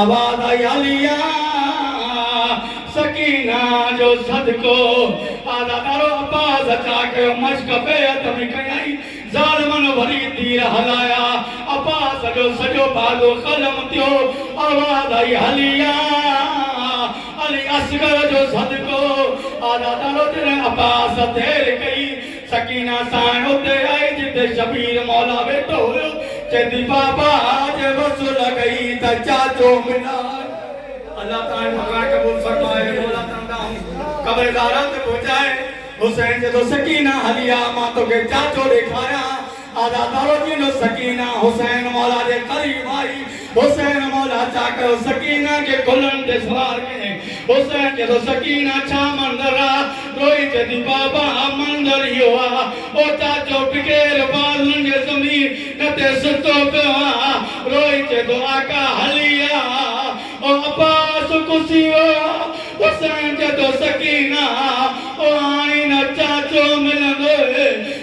آواز آئي عاليه سڪينه جو صدقو آزاد وارو عباس اچا ڪيو مشق بيعت ۾ ڪيائين ظالمن وري تير هلايا عباس جو سڄو بازو قلم ٿيو آواز آئي عاليه علي اصغر جو صدقو آزاد وارو جڏهن عباس دير ڪئي سڪينه ساڻ اتي آئي جتي شبير مولا ويٺو هيو، چئي ٿي بابا جي وصل ڪئي ته چاچو ملان. الله تنهنجي مڪان قبول فرمائي، مولا تنهن ڏانهن قبر زهرا تي پهچائي. حسين چئي ٿو سڪينه هلي آ مان توکي چاچو ڏيکاريان. آزاد نالو ڏيندو سڪينه حسين مولا جي قريب آئي حسين مولا چا ڪيو سڪينه کي گلن تي سوار ڪيائين حسين چي ٿو سڪينه ڇا منظر آ روئي چي ٿي بابا منظر اهو آ او چاچو بغير بازن جي زمين تي ستو پيو آ روئي چي ٿو آقا هلي آ او عباس ڪسي ويو آ حسين چي ٿو سڪينه او هاڻي نه چاچو ملندوئي